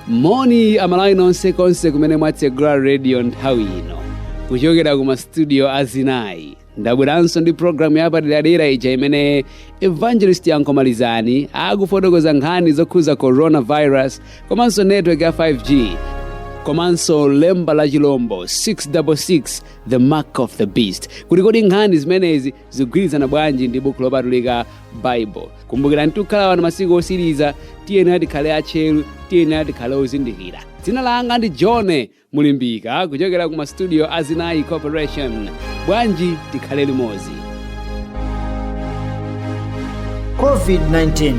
moni amalawi nonse konse kumene mwatsegula radio nthawi ino kuchokera ku mastudio a zinayi ndabweranso ndi programu yapaderadera ija imene evangelist yankho malizani akufotokoza nkhani zokhuza coronavirus komanso network ya 5g komanso lemba la chilombo 666 the mark of the beast kuti kodi nkhani zimenezi zikugwirizana bwanji ndi buku lopatulika bible kumbukirani tikukhala wanu masiku otsiriza tiyenera tikhale atcheru tiyenera tikhale ozindikira dzina langa ndi john mulimbika kuchokera ku mastudio a zinayi corporation bwanji tikhale limodzi covid-19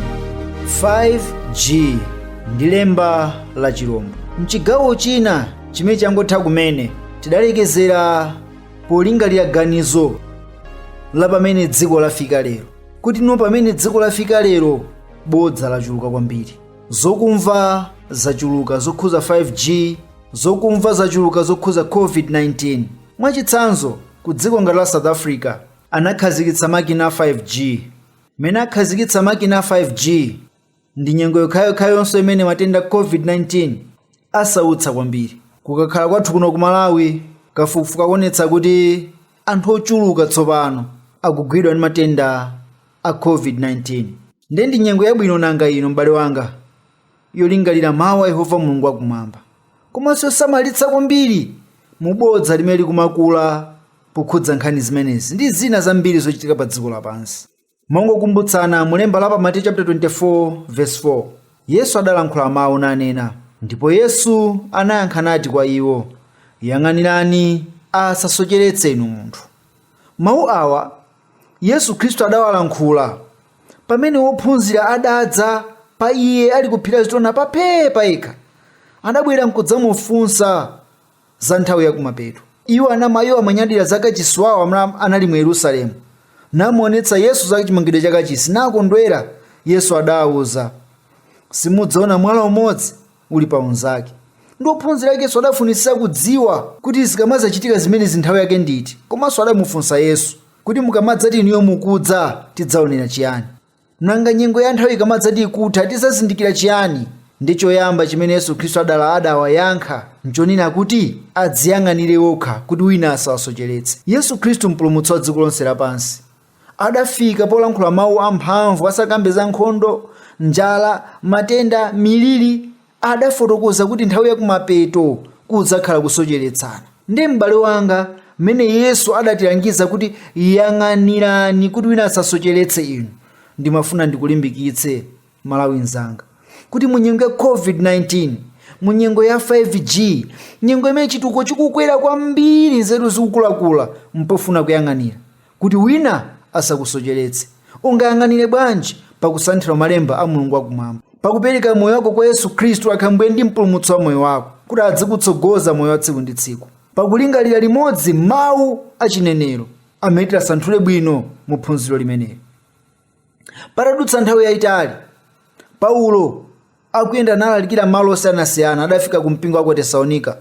5g ndi lemba la chilombo mchigawo china chimene changotha kumene tidalekezera polingalira ganizo la pamene dziko lafika lero kuti no pamene dziko lafika lero bodza lachuluka kwambiri zokumva zachuluka zokhuza 5g zokumva zachuluka zokhuza covid-19 mwachitsanzo ku dziko ngati la south africa anakhazikitsa makina a 5g mene akhazikitsa makina a 5g ndi nyengo yokhayokhayo yonse imene matenda a covid-19 asautsa kwambiri kukakhala kwathu kuno ku malawi kafukufuku akuonetsa kuti anthu ochuluka tsopano akugwidwa ndi matenda a covid-19 ndiye ndi nyengo yabwino nanga ino m'bale wanga yolingalira mawu a yehova mulungu wakumwamba komanso yosamalitsa kwambiri mu bodza limene likumakula pokhudza nkhani zimenezi ndi zina zambiri zochitika pa dziko lapansi mongokumbutsana mu lemba la pa mateyu chapter 24 verse 4 yesu adalankhula mawu nanena ndipo yesu anayankha nati kwa iwo yang'anirani asasocheretse inu munthu mawu awa yesu khristu adawalankhula pamene ophunzira adadza pa iye ali kuphiri la azitona pa phee pa yekha adabwera nkudzamufunsa za nthawi ya kumapeto. Iwo anama iwo amanyadira za kachisi wawo anali mu Yerusalemu, namuonetsa Yesu za chimangidwe cha kachisi, nakondwera. Yesu adawauza, simudzaona mwala umodzi uli pa unzake. Ndiye ophunzira ake Yesu adafunitsitsa kudziwa kuti zikamadzachitika zimenezi nthawi yake ndi iti, komanso adamufunsa Yesu kuti mukamadzati inuyo mukudza tidzaonera chiyani. Nanga nyengo ya nthawi ikamadzati ikutha tidzazindikira chiyani? Ndiye choyamba chimene Yesu Khristu adala adawayankha nchonena kuti adziyang'anire okha kuti wina asawasocheretse. Yesu Khristu Mpulumutsi wa dziko lonse lapansi adafika polankhula mau amphamvu asakambe za nkhondo, njala, matenda, miliri, adafotokoza kuti nthawi ya kumapeto kudzakhala kusocheretsana nde m'bale wanga mmene yesu adatilangiza kuti yang'anirani kuti wina asasocheretse inu ndimafuna ndikulimbikitse mmalawi mzanga kuti mu nyengo ya covid-19 mu nyengo ya 5g nyengo imene chitukuko chikukwera kwambiri nzeru zikukulakula mpofuna kuyang'anira Kuti wina asakusocheretse, ungayang'anire bwanji pa kusanthula malemba a Mulungu wakumwamba, pa kupereka moyo wako kwa Yesu Khristu akhale Mbuye ndi Mpulumutsi wa moyo wako, kuti adzikutsogoza moyo wa tsiku ndi tsiku, pa kulingalira limodzi mawu a chinenero amene tiwasanthule bwino mu phunziro limeneli. patadutsa nthawi yayitali paulo akuyenda nalalikira malo osiyanasiyana adafika ku mpingo wa ku tesalonika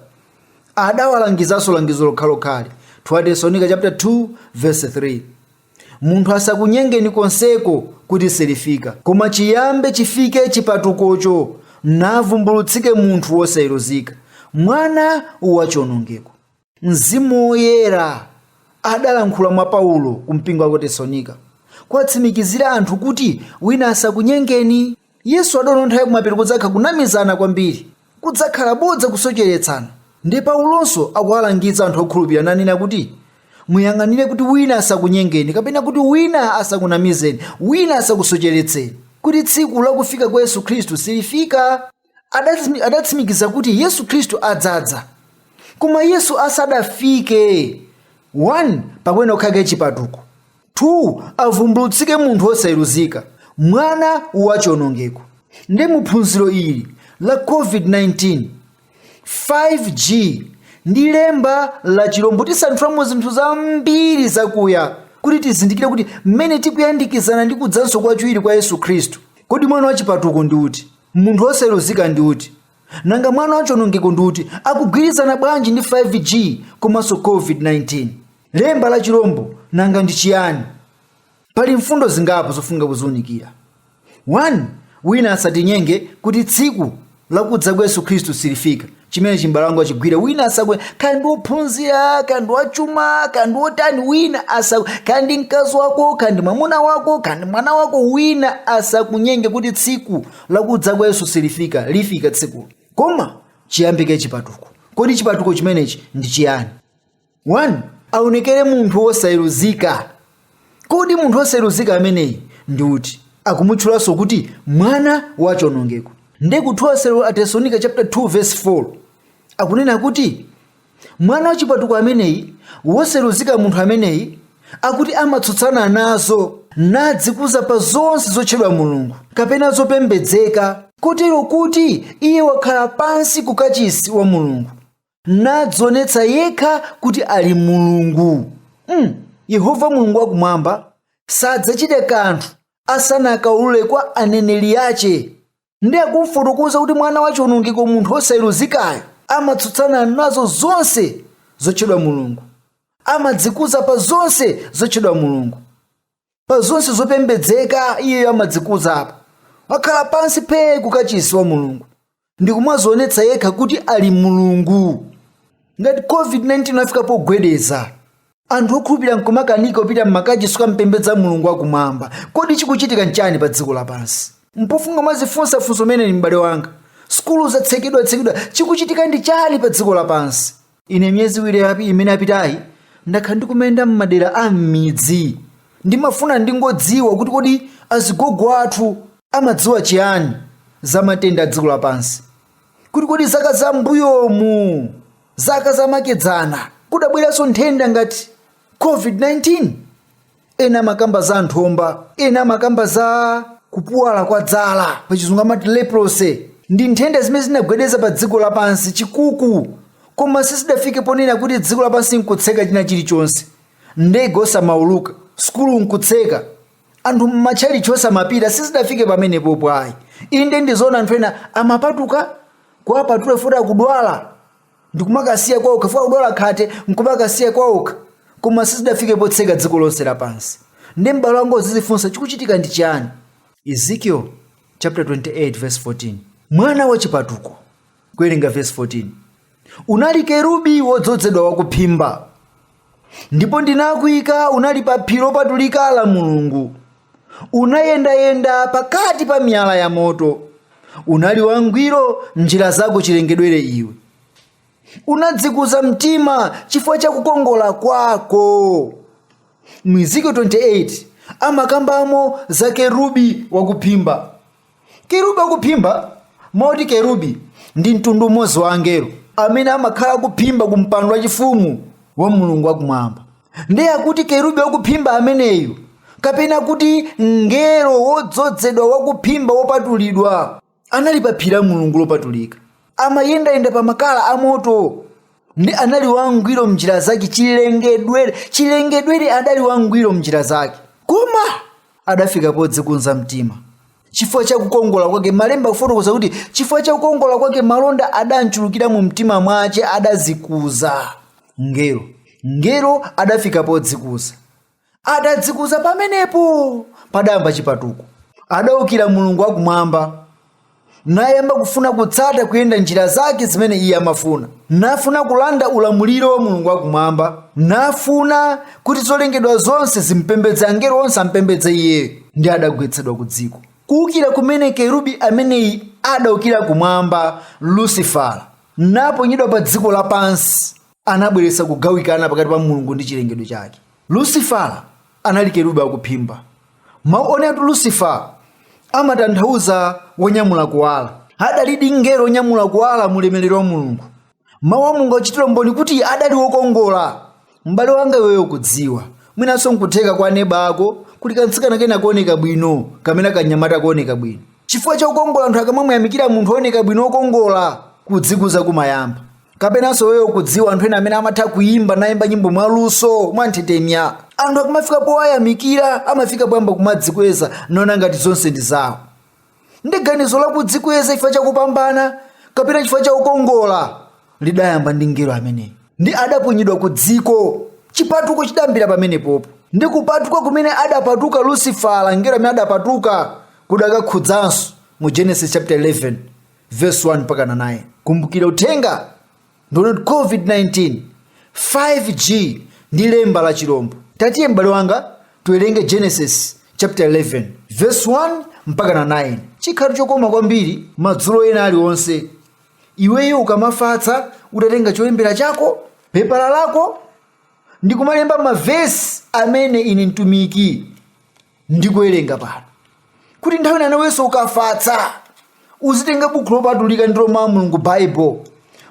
adawalangizanso langizo lokhalokhali 2 tesalonika chapter 2 verse 3 munthu asakunyengeni konseko kuti silifika koma chiyambe chifike chipatukocho navumbulutsike munthu wosayeruzika mwana wa chionongeko Mzimu Woyera adalankhula mwa Paulo ku mpingo wa ku Tesalonika kuwatsimikizira anthu kuti wina asakunyengeni. Yesu adaona nthawi kumapeto kudzakhala kunamizana kwambiri, kudzakhala bodza kusocheretsana. Nde Paulonso akuwalangiza anthu okhulupirira nanena kuti, Muyang'anire kuti wina asakunyengeni kapena kuti wina asakunamizeni, wina asakusocheretseni, kuti tsiku la kufika kwa Yesu Khristu silifika. adatsimi- adatsimikiza kuti yesu khristu adzadza koma yesu asadafike 1 pakuyenera kukhala kaye chipatuko 2 avumbulutsike munthu wosayeruzika mwana wa chionongeko nde muphunziro ili la covid-19 5g ndi lemba la chilombo tisanthulamo zinthu zambiri zakuya kuti tizindikire kuti mmene tikuyandikizana ndi kudzanso kwachiwiri kwa yesu khristu kodi mwana wachipatuko ndi uti Munthu wosayeruzika ndi uti? Nanga mwana wachonongeko ndi uti? Akugwirizana bwanji ndi 5G komanso COVID-19? Lemba la chilombo nanga ndi chiyani? Pali mfundo zingapo zofunika kuziunikira. 1, Wina asatinyenge kuti tsiku la kudza kwa Yesu Khristu silifika. chimenechi m'bale wanga uchigwire wina asaku- kaya ndi wophunzira kaya ndi wachuma kaya ndi wotani wina asaku- kaya ndi mkazi wako kaya ndi mwamuna wako kaya ndi mwana wako wina asakunyenge kuti tsiku lakudza kwa yesu silifika lifika tsikulo koma chiyambike chipatuko kodi chipatuko chimenechi ndi chiyani 1 aonekere munthu wosayeruzika. Kodi munthu wosayeruzika ameneyi ndi uti? Akumutchulanso kuti mwana wa chionongeko. Ndiye ku 2 Atesalonika chapter 2 verse 4 akunena kuti mwana wachipatuko ameneyi wosayeruzika munthu ameneyi akuti amatsutsana nazo nadzikuza pa zonse zotchedwa mulungu kapena zopembedzeka kotero kuti iye wakhala pansi ku kachisi wa mulungu nadzionetsa yekha kuti ali mulungu mm. yehova mulungu wakumwamba sadzachita kanthu asanakaulule kwa aneneri ache ndiye akumfotokoza kuti mwana wa chiwonongeko munthu wosayeruzikayo amatsutsana nazo zonse zotchedwa mulungu amadzikuza pa zonse zotchedwa mulungu pa zonse zopembedzeka iyeyo amadzikuzapo wakhala pansi phee kukachisi wa mulungu ndi kumazionetsa yekha kuti ali mulungu ngati covid-19 wafika pogwedeza anthu okhulupirira nkumakanika kupita m'makachisi kukampembedza mulungu wakumwamba kodi chikuchitika nchani pa dziko lapansi mpofunika mwazifunsa funso limeneli m'bale wanga sukulu zatsekedwatsekedwa chikuchitika ndi chani pa dziko lapansi Ine miyezi iwiri yapi- imene yapitayi ndakhala ndikumayenda m'madera a m'midzi. Ndimafuna ndingodziwa kuti kodi azigogo athu amadziwa chiyani za matenda a dziko lapansi. Kuti kodi zaka za mbuyomu, zaka zamakedzana, kudabweranso nthenda ngati COVID-19? ena amakamba za nthomba ena amakamba za kupuwala kwa zala pachizungu amati leprosy ndi nthenda zimene zinagwedeza pa dziko lapansi chikuku koma sizidafike ponena kuti dziko lapansi nkutseka china chilichonse ndege osamauluka sukulu nkutseka anthu mmatchalichi osamapita sizidafike pamenepopo ayi inde ndizoona anthu ena amapatuka kuwapatula chifukwa akudwala ndikumakawasiya kwaokha chifukwa akudwala khate nkumakawasiya kwaokha koma sizidafike potseka dziko lonse lapansi ndiye m'bale wanga uzizifunsa chikuchitika ndi chiyani ezekiel chapter 28 verse 14 mwana wa chipatuko kuwerenga verse 14 unali kerubi wodzozedwa wakuphimba ndipo ndinakuika unali pa phiri lopatulika la mulungu unayendayenda pakati pa miyala ya moto unali wangwiro m'njira zako chilengedwere iwe unadzikuza mtima chifukwa cha kukongola kwako mu ezekiel 28 amakambamo za kerubi wakuphimba Kerubi wakuphimba moti kerubi ndi mtundu umodzi wa angelo amene amakhala akuphimba ku mpando wachifumu wa Mulungu wakumwamba. Ndiye akuti kerubi wakuphimba ameneyu kapena kuti mngelo wodzozedwa wakuphimba wopatulidwa anali pa phiri la Mulungu lopatulika. amayendayenda pa makala amoto ndi anali wangwiro mnjira zake chilengedwere chilengedwere adali wangwiro mnjira zake koma adafika podzikunza mtima chifukwa cha kukongola kwake malemba kufotokoza kuti chifukwa cha kukongola kwake malonda adamchulukira mu mtima mwache adazikuza mngelo mngelo adafika podzikuza Adadzikuza pamenepo, padayamba chipatuko. Adaukira Mulungu wakumwamba, nayamba kufuna kutsata kuyenda njira zake zimene iye amafuna, nafuna kulanda ulamuliro wa Mulungu wakumwamba, nafuna kuti zolengedwa zonse zimpembedze angelo onse ampembedze iye, ndi adagwetsedwa ku dziko. Kuukira kumene kerubi ameneyi adaukira kumwamba, Lusifala, naponyedwa pa dziko lapansi. anabweretsa kugawikana pakati pa mulungu ndi chilengedwe chake lusifala anali kerubi wakuphimba mawu onena kuti lusifala amatanthauza wonyamula kuwala adalidi mngelo wonyamula kuwala mu ulemerero wa mulungu mawu a mulungu akuchitira umboni kuti adali wokongola m'bale wanga iweyo ukudziwa mwinanso nkutheka kwa neba wako kuli kamtsikana kena kooneka bwino kapena kanyamata kooneka bwino chifukwa cha kukongola anthu akamamuyamikira munthu wooneka bwino wokongola kudzikuza kumayamba kapenanso iweyo ukudziwa anthu ena amene amatha kuyimba nayimba nyimbo mwaluso mwanthetemya anthu akamafika powayamikira amafika poyamba kumadzikweza naona ngati zonse ndi zawo ndi ganizo lakudzikweza chifukwa chakupambana kapena chifukwa cha kukongola lidayamba ndi mngelo ameneyi ndi adaponyedwa ku dziko chipatuko chidayambira pamenepopo ndi kupatuka kumene adapatuka lusifala mngelo amene adapatuka kudakakhudzanso mu genesis chapter 11 Verse 1 mpaka na 9. Kumbukira uthenga ndi wonena kuti COVID-19 5G ndi lemba la chilombo. Tatiye m'bale wanga tiwerenge Genesis chapter 11 verse 1 mpaka na 9. Chikhala chokoma kwambiri madzulo ena aliwonse. Iweyo ukamafatsa utatenga cholembera chako, pepala lako ndi kumalemba mavesi amene ine mtumiki ndikuwerenga pano. kuti nthawi ina nawenso ukafatsa uzitenga buku lopatulika ndilo mawu a mulungu baibulo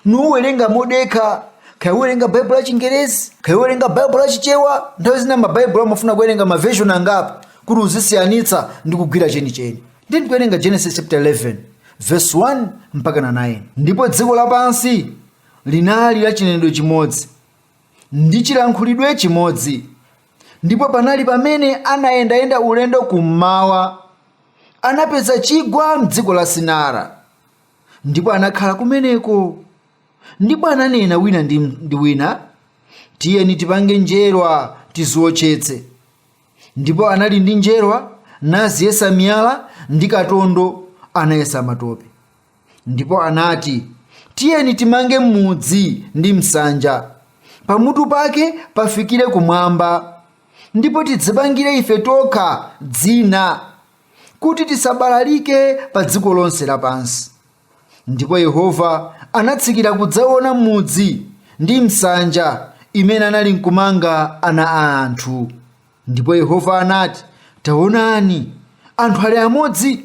nuwerenga modekha kaya uwerenga baibulo la chingerezi kaya uwerenga baibulo la chichewa nthawi zina mabaibulo amafuna kuwerenga maveshoni angapo kuti uzisiyanitsa ndi kugwira chenicheni nde ndikuwerenga genesis chapter 11 verse 1 mpaka na 9 ndipo dziko lapansi linali la chinenedwe chimodzi ndi chilankhulidwe chimodzi. Ndipo panali pamene anayendayenda ulendo kummawa, anapeza chigwa m'dziko la Sinara, ndipo anakhala kumeneko. Ndipo ananena wina ndi wina, tiyeni tipange njerwa tiziwotchetse. Ndipo anali ndi njerwa, naziyesa miyala ndi katondo, anayesa matope. Ndipo anati, Tiyeni timange mudzi ndi msanja, pamutu pake pafikire kumwamba, ndipo tidzipangire ife tokha dzina, kuti tisabalalike pa dziko lonse lapansi. Ndipo Yehova anatsikira kudzaona mudzi ndi msanja imene anali nkumanga ana a anthu. Ndipo Yehova anati, Taonani, anthu ali amodzi,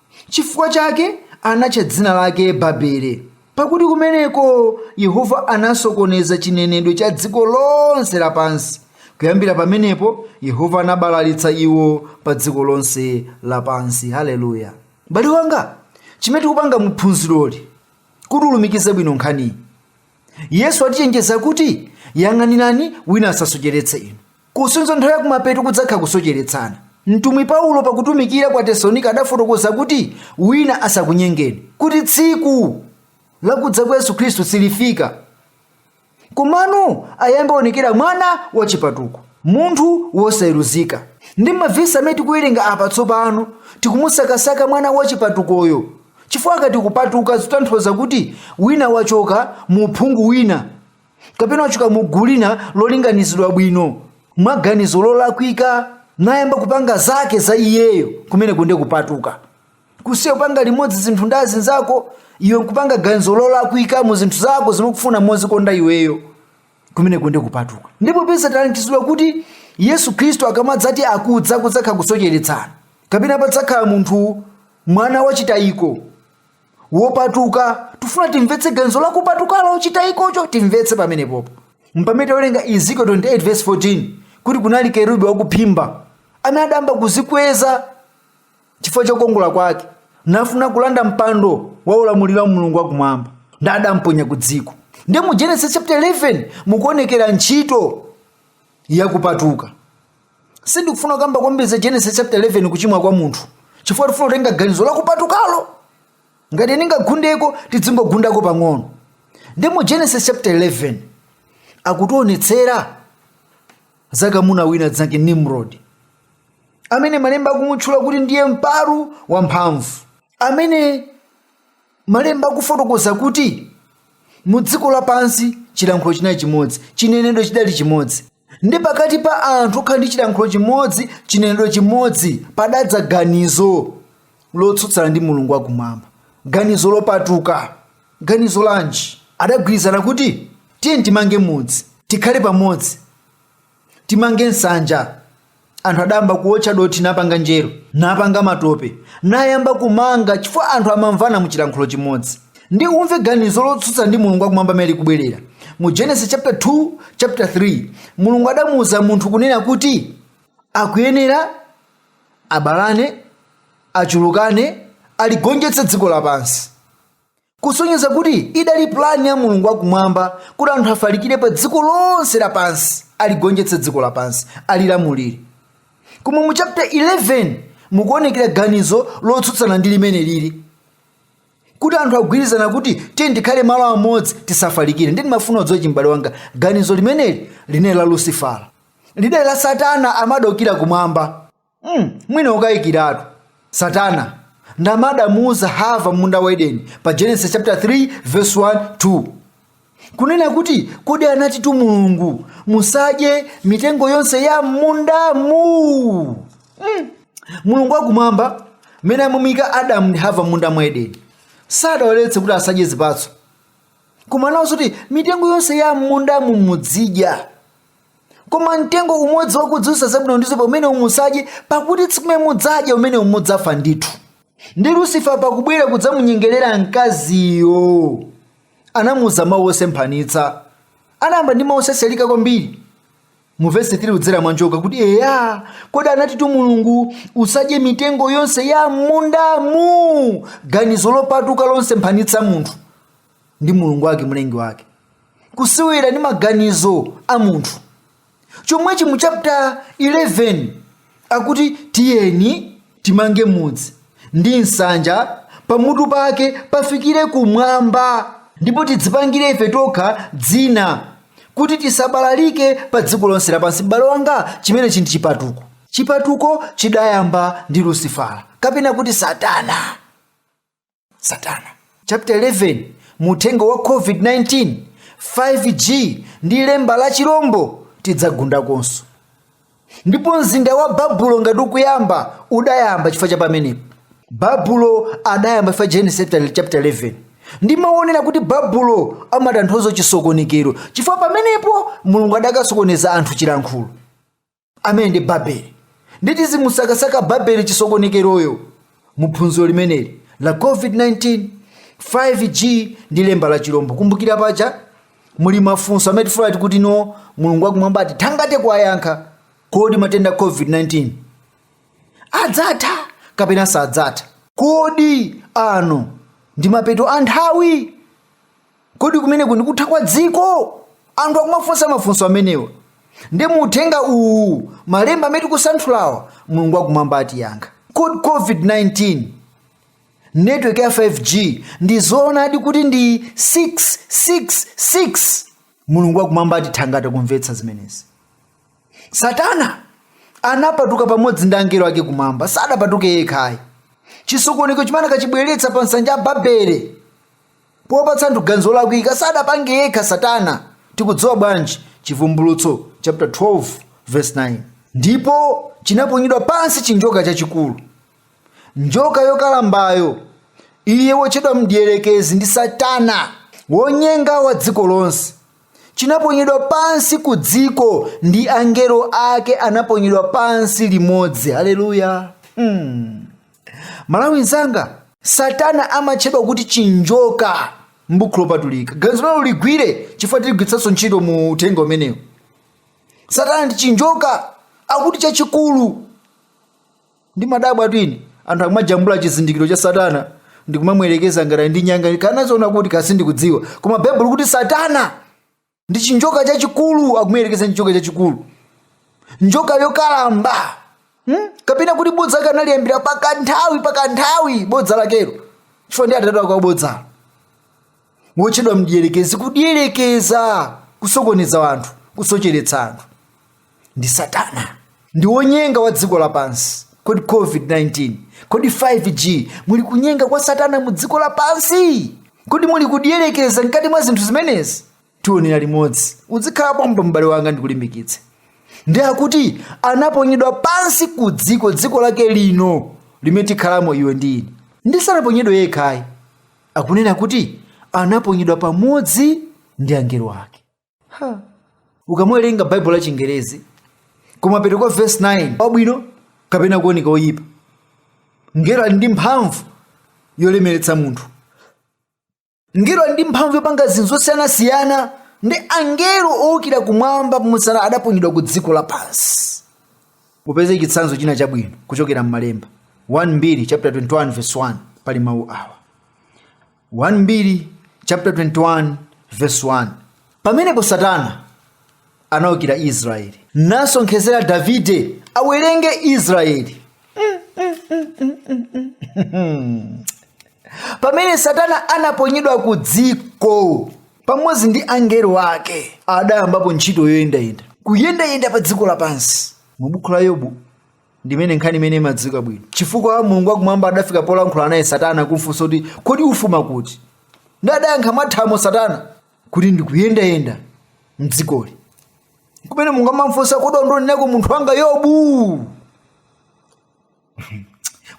Chifukwa chake anatcha dzina lake Babele, pakuti kumeneko Yehova anasokoneza chinenedwe cha dziko lonse lapansi. Kuyambira pamenepo, Yehova anabalalitsa iwo pa dziko lonse lapansi. Haleluya! M'bale wanga, chimene tikupanga mu phunziroli kuti ulumikize bwino nkhaniyi, Yesu atichenjeza kuti, Yang'anirani wina asasocheretse inu. Kusonyeza nthawi yakumapeto kudzakhala kusocheretsana. Mtumwi Paulo pakutumikira kwa Atesalonika adafotokoza kuti, Wina asakunyengeni, kuti tsiku la kudza kwa Yesu Khristu silifika, komano ayambe aonekera mwana wa chipatuko, munthu wosayeruzika. Ndiye m'mavesi amene tikuwerenga apa tsopano, tikumusakasaka mwana wa chipatukoyo, chifukwa akati kupatuka zitanthauza kuti wina wachoka mu uphungu wina. kapena wachoka mu gulu lina lolinganizidwa bwino mwa ganizo lolakwika nayamba kupanga zake za iyeyo kumeneko nde kupatuka kusiya kupanga limodzi zinthu ndi azinzako iwe kupanga ganizo lolakwika mu zinthu zako zimene ukufuna mozikonda iweyo kumeneko nde kupatuka ndi popeza talangizidwa kuti yesu khristu akamadzati akudza kudzakhala kusocheretsana kapena padzakhala munthu mwana wachitayiko wopatuka tifuna timvetse ganizo la kupatukalo chitayikocho timvetse pamenepopo mpamene tawerenga ezekiel 28 verse 14 kuti kunali kerubi wakuphimba amene adayamba kuzikweza chifukwa cha kukongola kwake nafuna kulanda mpando wa ulamuliro wa mulungu wakumwamba nde adamponya ku dziko nde mu genesis chapter 11 mukuonekera ntchito yakupatuka sindikufuna kukamba kwambiri za genesis chapter 11 kuchimwa kwa munthu chifukwa tifuna kutenga ganizo lakupatukalo ngati ndingagundeko tidzingogundako pang'ono nde mu genesis chapter 11 akutionetsera za kamuna wina dzina lake nimrod amene malemba akumutchula kuti ndiye mpalu wamphamvu amene malemba akufotokoza kuti mu dziko lapansi chilankhulo chinali chimodzi chinenedwe chidali chimodzi nde pakati pa anthu okhala ndi chilankhulo chimodzi chinenedwe chimodzi padadza ganizo lotsutsana ndi mulungu wakumwamba ganizo lopatuka ganizo lanji adagwirizana kuti tiyeni timange mudzi tikhale pamodzi timange nsanja anthu adayamba kuotcha dothi napanga njeru napanga matope nayamba kumanga chifukwa anthu amamvana mu chilankhulo chimodzi ndi umve ganizo lotsutsa ndi mulungu wakumwamba limene likubwerera mu genesis chapter 2 chapter 3 mulungu adamuwuza munthu kunena kuti akuyenera abalane achulukane aligonjetse dziko lapansi kusonyeza kuti idali pulani ya mulungu wakumwamba kuti anthu afalikire pa dziko lonse lapansi aligonjetse dziko lapansi alilamulire koma mu chapter 11 mukuonekera ganizo lotsutsana ndi limene lili kuti anthu agwirizana kuti tiyeni tikhale malo amodzi tisafalikire ndi ndimafuna udziwe ichi m'bale wanga ganizo limeneli linali la lusifala lidali la satana amadokira kumwamba Mm, mwina ukayikiratu satana nd'amene adamuuza hava m'munda wa edeni pa genesis chapter 3 verse 1 2 kunena kuti kodi anatitu mulungu musadye mitengo yonse ya mmundamu mm. mulungu wakumwamba mmene amamuika adamu ndi hava m'munda mwa edeni sadawaletse kuti asadye zipatso koma anawauza kuti mitengo yonse ya mmundamu mudzidya koma mtengo umodzi wakudziwitsa zabwino ndi zoipa umenewu musadye pakuti tsiku limene mudzadya umenewu mudzafa ndithu ndi lusifa pakubwera kudzamunyengerera mkaziyo anamuuza mawu osemphanitsa anayamba ndi mawu osereula kwambiri mu vesi 3 kudzera mwanjoka kuti eya kodi anatitu mulungu usadye mitengo yonse ya m'mundamu ganizo lopatuka losemphanitsa munthu ndi mulungu wake mlengi wake kusewera ndi maganizo a munthu chomwechi mu chapter 11 akuti tiyeni timange mudzi ndi nsanja pamutu pake pafikire kumwamba ndipo tidzipangire ife tokha dzina kuti tisabalalike pa dziko lonse lapansi m'bale wanga chimenechi ndi chipatuko chipatuko chidayamba ndi lusifala kapena kuti satana satana chapter 11 mu uthenga wa covid-19 5g ndi lemba la chilombo tidzagundakonso ndipo mzinda wa babulo ngati ukuyamba udayamba chifukwa cha pamenepo babulo adayamba chifukwa genesis chapter 11 ndimaonera kuti babulo amatanthauza chisokonekero chifukwa pamenepo mulungu adakasokoneza anthu chilankhulo amene ndi babeli ndi tidzimusakasaka babeli chisokonekeroyo mu phunziro limeneli la covid-19 5g ndi lemba la chilombo kumbukira paja muli mafunso amene tifuna kuti tione mulungu wakumwamba atithangate kuwayankha kodi matenda a covid-19 adzatha kapena sadzatha kodi ano ndi mapeto a nthawi kodi kumeneku ndi kutha kwa dziko anthu akumafunsa mafunso amenewa ndi muuthenga uwu malemba amene tikusanthulawa mulungu wakumwamba atiyankha kodi covid-19 network ya 5g ndi zoonadi kuti ndi 666 mulungu wakumwamba atithangata kumvetsa zimenezi satana anapatuka pamodzi ndi angelo ake kumwamba sadapatuke yekhayi chisokoneko chimene akachibweretsa pa nsanja ya babele popatsa anthu ganizo lolakwika sadapange yekha satana tikudziwa bwanji chivumbulutso chapter 12 verse 9 ndipo chinaponyedwa pansi chinjoka chachikulu njoka yokalambayo iye wotchedwa mdierekezi ndi satana wonyenga wa dziko lonse chinaponyedwa pansi ku dziko ndi angelo ake anaponyedwa pansi limodzi haleluya hmm. m'malawi mnzanga satana amatchedwa kuti chinjoka m'buku lopatulika ganizo limenelo uligwire chifukwa tiligwiritsanso ntchito mu uthenga umenewu satana ndi chinjoka akuti chachikulu ndimadabwatu ine anthu akumajambula chizindikiro cha satana ndi kumamuyerekeza ngati ndi nyanga anaziona kuti kaya sindikudziwa koma baibulo likuti satana ndi chinjoka chachikulu akumuyerekeza ndi chinjoka chachikulu njoka yokalamba hmm? kapena kuti bodza lake analiyambira pakanthawi pakanthawi bodza lakelo chifukwa ndi atate wake wa bodza wotchedwa mdierekezi kudierekeza kusokoneza anthu kusocheretsa anthu ndi satana ndi wonyenga wa dziko lapansi kodi covid-19 kodi 5g muli kunyenga kwa satana mu dziko lapansi kodi muli kudierekeza mkati mwa zinthu zimenezi tionera limodzi uzikhala pompo m'bale wanga ndikulimbikitse ndi akuti anaponyedwa pansi ku dziko dziko lake lino limene tikhalamo iwe ndi ine ndi sanaponyedwe yekhayi akunena kuti anaponyedwa pamodzi ndi angelo ake ukamawerenga baibulo la chingerezi kumapeto kwa vesi 9 wabwino kapena kuoneka oyipa mngelo ali ndi mphamvu yolemeretsa munthu mngelo ali ndi mphamvu yopanga zinthu zosiyanasiyana ndi angelo owukira kumwamba pomwe satana adaponyedwa ku dziko lapansi upeze chitsanzo china chabwino kuchokera m'malemba 1 mbiri chapter 21 verse 1 pali mawu awa 1 Mbiri chapter 21 verse 1 pamenepo satana anaukira israeli nasonkhezera davide awerenge israeli pamene satana anaponyedwa ku dziko pamodzi ndi angelo ake adayambapo ntchito yoyendayenda kuyendayenda pa dziko lapansi mu buku la yobu ndimene nkhani imene imadziwika bwino chifukwa mulungu wakumwamba adafika polankhula naye satana kumfunsa kuti kodi ufuma kuti ndi adayankha mwathamo satana kuti ndikuyendayenda mdzikoli kumene mulungu amamfunsa kodi wandionerako munthu wanga yobu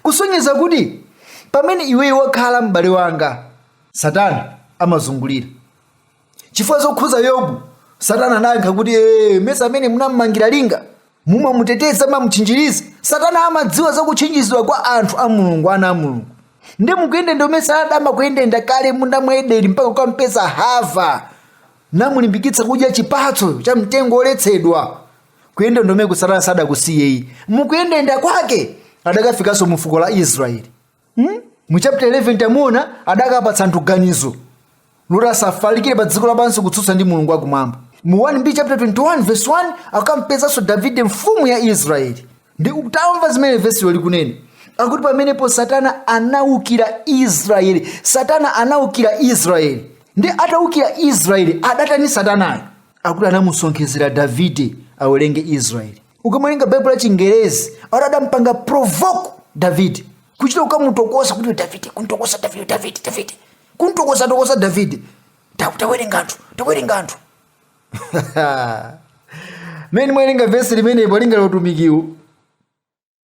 kusonyeza kuti pamene iweyo wakhala m'bale wanga satana amazungulira chifukwa zokhudza yobu satana anayankha kuti ee mesa amene munammangira linga mumamuteteza mamutchinjiriza satana amadziwa zakutchinjizidwa kwa anthu a mulungu ana a mulungu ndi mukuyendayenda kumene satana amakuyendayenda kale m'munda mwa edeni mpaka kukampeza hava namulimbikitsa kudya chipatso cha mtengo woletsedwa kuyendayendako satana sadakusiyeyi mukuyendayenda kwake adakafikanso mu fuko la israeli mu chapter 11 tamuona adakapatsa anthu ganizo loti asafalikire pa dziko lapansi kutsutsa ndi mulungu wakumwamba mu 1b chapter 21 verse 1 akampezanso davide mfumu ya israeli ndi utamva zimene vesilo likunena akuti pamenepo satana anaukira israeli satana anaukira israeli ndi ataukira israeli adatani satanayo akuti anamusonkhezera davide awerenge israeli ukamawerenga baibulo la chingerezi ati adampanga provoke davide kuchita kukamutokosa kuti davide kuntokosa davide davide davide kuntokosa tokosa davide tawerenga anthu tawerenga anthu mene ndimawerenga vesi limenepo linga lotumikiwo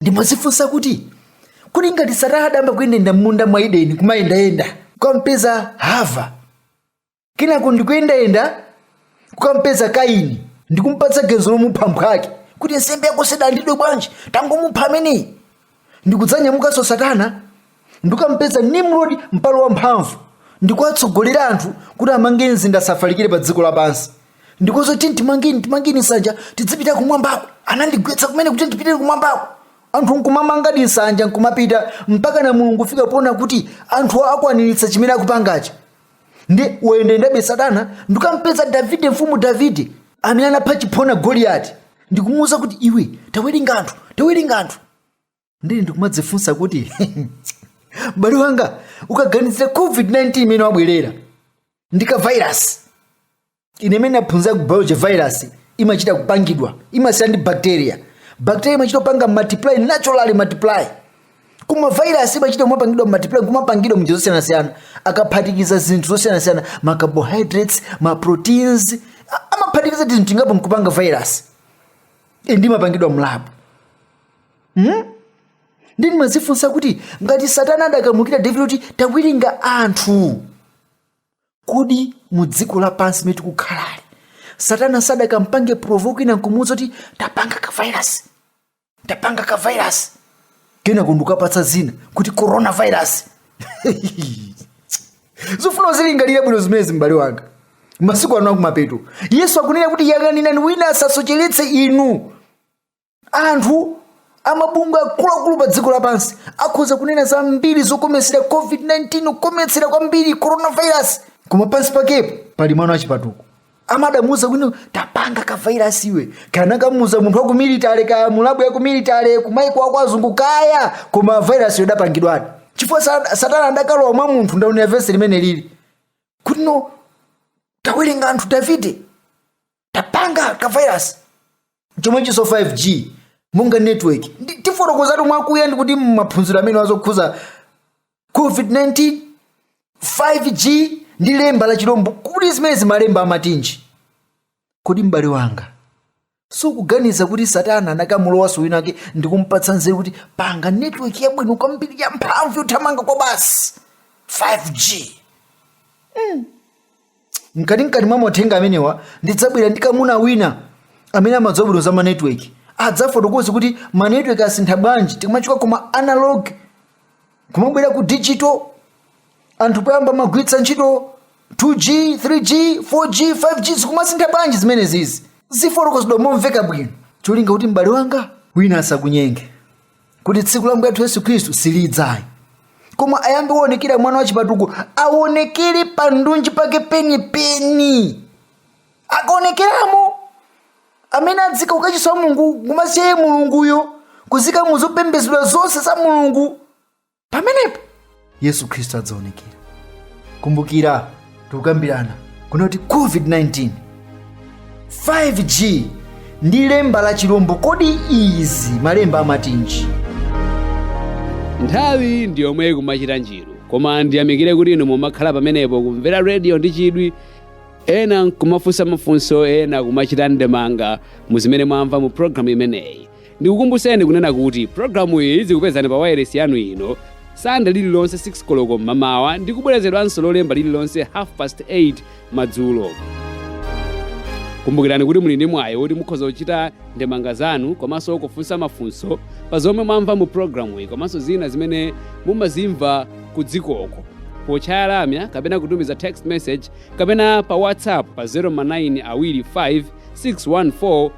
ndimadzifunsa kuti kuli ngati satana adayamba kuyendayenda m'munda mwa edeni kumayendayenda kukampeza hava kenako ndikuyendayenda kukampeza kaini ndikumpatsa ganizo lomupha mphwake kuti nsembe yako sidalandidwe bwanji tangomupha ameneyi ndikudzanyamukanso satana ndikukampeza nimrodi mpalo wamphamvu ndikuwatsogolera anthu kuti amange mzinda asafalikire pa dziko lapansi ndikuwauza tiyeni timange timange nsanja tidzipita kumwambako anandigwetsa kumene kuti ndipitire kumwambako anthu nkumamangadi nsanja nkumapita mpaka na mulungu kufika poona kuti anthu akwaniritsa chimene akupangacho nde wayendayendabe satana ndikukampeza davide mfumu davide amene anapha chiphona goliyati ndikumuwuza kuti iwe tawerenga anthu tawerenga anthu ndiye ndikumadzifunsa kuti m'bale wanga ukaganizira covid-19 imene yabwerayi ndika virus ine imene naphunzira ku biology virus imachita kupangidwa imasiyana ndi bacteria bacteria imachita kupanga multiply naturally multiply koma virus imachita kumapangidwa multiply kumapangidwa mnjira zosiyanasiyana akaphatikiza zinthu zosiyanasiyana ma carbohydrates ma proteins a- amaphatikiza tinthu tingapo nkupanga virus e nde imapangidwa mlabu ndi ndimadzifunsa kuti ngati satana adakamukira davide kuti tawerenga anthu kodi mu dziko lapansi limene tikukhalali satana sadakampange provoke wina nkumuuza kuti tapanga ka virus tapanga ka virus kenako ndikukapatsa dzina kuti coronavirus zofuna uzilingalire bwino zimenezi m'bale wanga masiku ano akumapeto yesu akunena kuti yang'anirani wina asasocheretse inu anthu amabungwe akuluakulu pa dziko lapansi akhoza kunena zambiri zokometsera covid-19 kukometsera kwambiri coronavirus koma pansi pakepo pali mwana wachipatuko amakamuuza kuti tapanga kavairasi iwe anakamuuza munthu wa ku military kaya mulabu ya ku military kumaiko akwazungu kaya koma vairasi yodapangidwadi chifukwa sa- satana adakalowa mwa munthu ndaonera vesi limene lili kuti kuno tawerenga wamuuza davide tapanga ka virus chomwechinso 5g monga network tifotokozatu mwakuya ndi kuti maphunziro amenewa okhudza covid-19 5g ndi lemba la chilombo kuti zimenezi malemba amatinji kodi m'bale wanga sukuganiza kuti satana anakamulowanso wina ake ndi kumpatsa nzeru kuti panga network yabwino kwambiri ya mphamvu yothamanga kwabasi 5g mkatimkati mwa mauthenga amenewa ndidzabwera ndi mkamuna wina amene amadziwa bwino za manetwork adzafotokoze kuti manetwork asintha bwanji tikamachoka kuma analog kumabwera ku digital anthu poyamba amagwiritsa ntchito 2g 3g 4g 5g zikumasintha bwanji zimenezizi zifotokozedwa momveka bwino cholinga kuti m'bale wanga wina asakunyenge kuti tsiku la mbuye wathu yesu khristu silidzayi koma ayambe waonekera mwana wachipatuko aonekere pandunji pake penipeni akaonekeramo amene adziika kukachisi wa mulungu kumaziyesa iye mulunguyo kudziika muzopembedzedwa zonse za mulungu pamenepo yesu khristu adzaonekera kumbukira tikukambirana kunena kuti covid-19 5g ndi lemba la chilombo kodi izi malemba amatinji nthawi ndi yomwe ikumachita njiru koma ndiyamikire kuti inu mumakhala pamenepo kumvera rediyo ndi chidwi ena nkumafunsa mafunso ena kumachita ndemanga mu zimene mwamva mu programu imeneyi Ndikukumbuseni kunena kuti programu iyi idzikupezani pa wailesi yanu ino Sande lililonse 6 koloko m'mamawa ndi kubwerezedwanso lolemba lililonse half past 8 madzulo. Kumbukirani kuti muli ndi mwayi woti mukhoza kuchita ndemanga zanu komanso kufunsa mafunso pa zomwe mwamva mu programu iyi komanso zina zimene mumazimva ku dzikoko potchaya lamya kapena kutumiza text message kapena pa whatsapp pa 0 ma9 awiri 5 614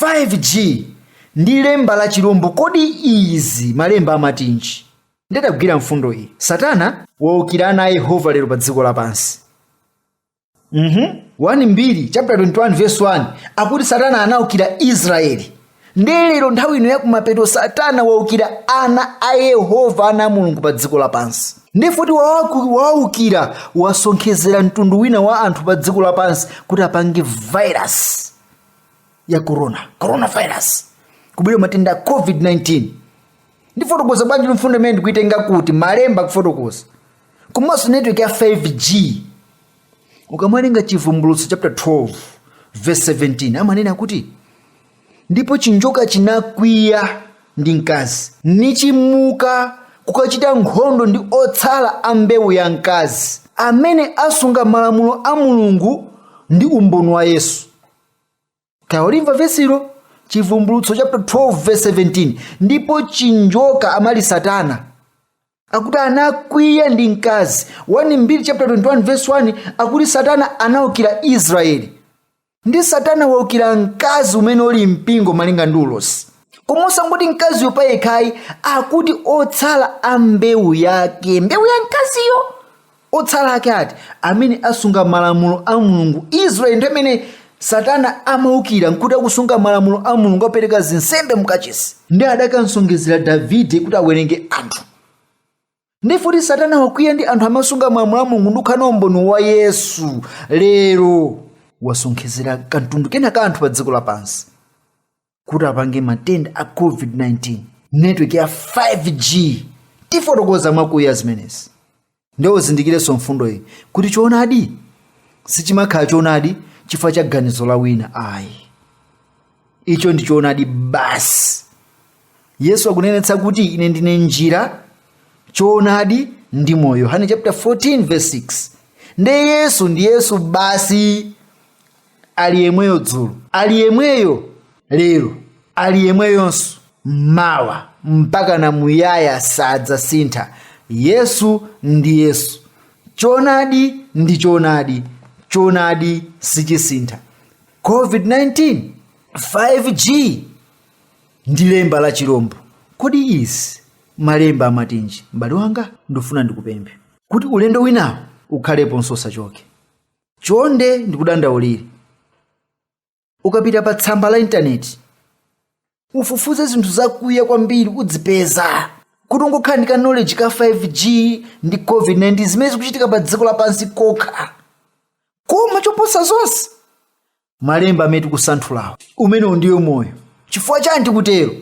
5G ndi lemba la chirombo kodi izi malemba amatinji? Nditagwira mfundo iyi. Satana waukira ana a Yehova lero pa dziko lapansi. Mhm. 1 Mbiri chapter 21 verse 1 akuti Satana anaukira Israeli. Ndiye lero nthawi ino yakumapeto Satana waukira ana a Yehova ana a Mulungu pa dziko lapansi. Ndiye kuti wawaku- wawaukira wasonkhezera mtundu wina wa anthu pa dziko lapansi kuti apange virus. ya corona coronavirus kubwera matenda a covid-19 ndifotokoza bwanji mfundo imene ndikuitenga kuti malemba akufotokoza komanso network ya 5g ukamawerenga chivumbulutso chapter 12 verse 17 amanena kuti ndipo chinjoka chinakwiya ndi mkazi, nichimuka kukachita nkhondo ndi otsala a mbewu ya mkazi, amene asunga malamulo a Mulungu ndi umboni wa Yesu. Talimva vesilo Chivumbulutso chapter 12 verse 17 ndipo chinjoka amali Satana akuti anakwiya ndi mkazi 1 Mbiri chapter 21 verse 1 akuti Satana anaukira Israeli ndi satana waukira mkazi umene uli mpingo malinga ndi ulosi koma osangoti mkaziyo payekhayi akuti otsala a mbewu yake mbewu ya mkaziyo otsala ake ati amene asunga malamulo a mulungu israeli nthawi imene satana amaukira nkuti akusunga malamulo a mulungu apereka zinsembe mukachisi ndiye adakamsonkhezera davide kuti awerenge anthu ndiye kuti satana wakwiya ndi anthu amasunga malamulo a mulungu ndikukhala umboni wa yesu lero wasonkhezera kamtundu kena ka anthu pa dziko lapansi kuti apange matenda a covid-19 network ya 5g tifotokoza mwakuya zimenezi ndiye uzindikirenso mfundo iyi kuti choonadi sichimakhala choonadi chifukwa cha ganizo la wina ayi icho ndi choonadi basi yesu akunenetsa kuti ine ndine njira choonadi ndi moyo yohane chapter 14 verse 6 nde yesu ndi yesu basi ali yemweyo dzulo ali yemweyo lero ali yemweyonso mawa mpaka na muyaya sadzasintha yesu ndi yesu choonadi ndi choonadi choonadi sichisintha covid-19 5g ndi lemba la chirombo. Kodi izi malemba amatinji? M'bale wanga, ndifuna ndikupemphe kuti ulendo winawo ukhaleponso usachoke. Chonde ndikudandaulire, ukapita pa tsamba la intaneti ufufuze zinthu zakuya kwambiri udzipeza kuti ungokhala ndi ka knowledge ka 5g ndi covid-19 zimene zikuchitika pa dziko lapansi kokha koma choposa zonse malemba amene tikusanthulawo umenewu ndiyo moyo chifukwa chani tikutero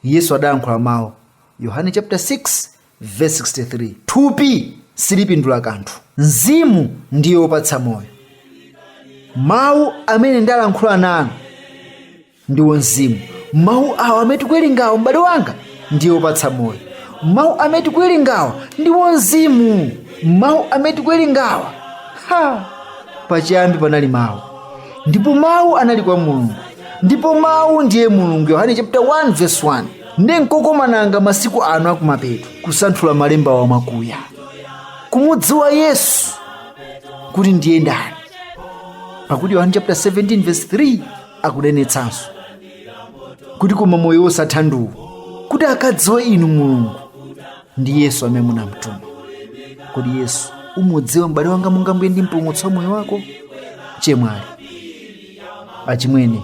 yesu adayankhula mawu yohane chapter 6 verse 63 thupi silipindula kanthu mzimu ndiye wopatsa moyo mawu amene ndalankhula nanu ndiwo mzimu mawu awa amene tikuwerengawa m'bale wanga ndi opatsa moyo mawu amene tikuwerengawa ndiwo mzimu mawu amene tikuwerengawa ha pachiyambi panali mawu ndipo mawu anali kwa mulungu ndipo mawu ndiye mulungu yohane chapter 1 verse 1 ndi mkokomo wanga masiku ano akumapeto kusanthula malembawa mwakuya kumudziwa yesu kuti ndiye ndani pakuti yohane chapter 17 verse 3 akunenetsanso kuti koma moyo wosatha ndi uwu kuti akadziwe inu mulungu ndi yesu amene munamtuma kodi yesu umudziwa m'bale wanga monga mbuye ndi mpulumutsi wa moyo wako chemwali achimwene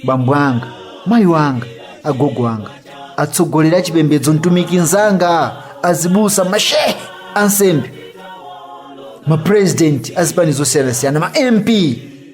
bambo anga mayi wanga agogo anga atsogoleri achipembedzo mtumiki nzanga azibusa mashehe ansembe mapurezidenti azipani zosiyanasiyana ma mp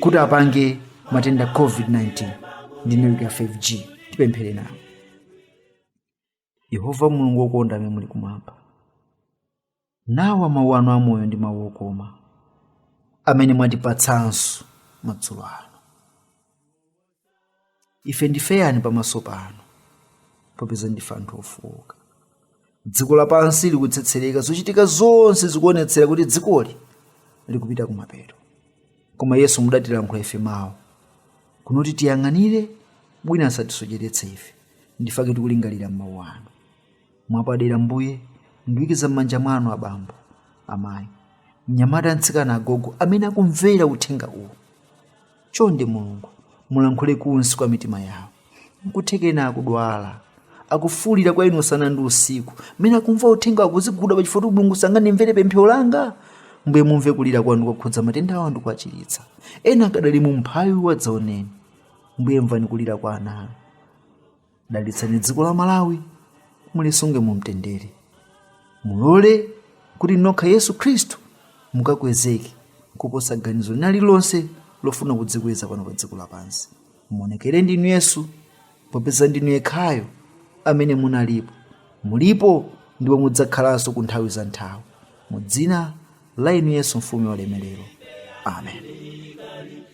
kuti apange matenda covid-19 ndi network ya 5g tipemphere nawo yehova mulungu wokonda amene muli kumwamba nawa mawu anu amoyo ndi mawu okoma amene mwatipatsanso madzulo ano ife ndife ayani pamaso panu popeza ndife anthu ofowoka dziko lapansi likutsetsereka zochitika zonse zikuonetsera kuti dzikoli likupita kumapeto koma yesu mudatilankhula ife mawu kunena kuti tiyang'anire bwino asatisocheretse ife ndifake tikulingalira m'mawu anu mwapadera mbuye ndikuikiza m'manja mwanu abambo amayi mnyamata mtsikana agogo amene akumvera uthenga uwu Chonde Mulungu, mulankhule kunsi kwa mitima yawo. Nkutheka ena akudwala, akufuulira kwa inu usana ndi usiku, mmene akumva uthenga akudziguguda pachifuwa kuti Mulungu simungandimvere pemphero langa. Mbuye, mumve kulira kwawo ndi kuwakhudza matenda awo ndikuwachiritsa. Ena akadali mu umphawi wadzaoneni. Mbuye, mvani kulira kwa ana anu. dalitsani dziko la malawi mulisunge mu mtendere mulole kuti nokha yesu khristu mukakwezeke kuposa ganizo lina lililonse lofuna kudzikweza pano pa dziko lapansi muonekere ndinu yesu popeza ndinu yekhayo amene munalipo mulipo ndipo mudzakhalanso ku nthawi za nthawi mu dzina la inu yesu mfumu ya ulemerero amen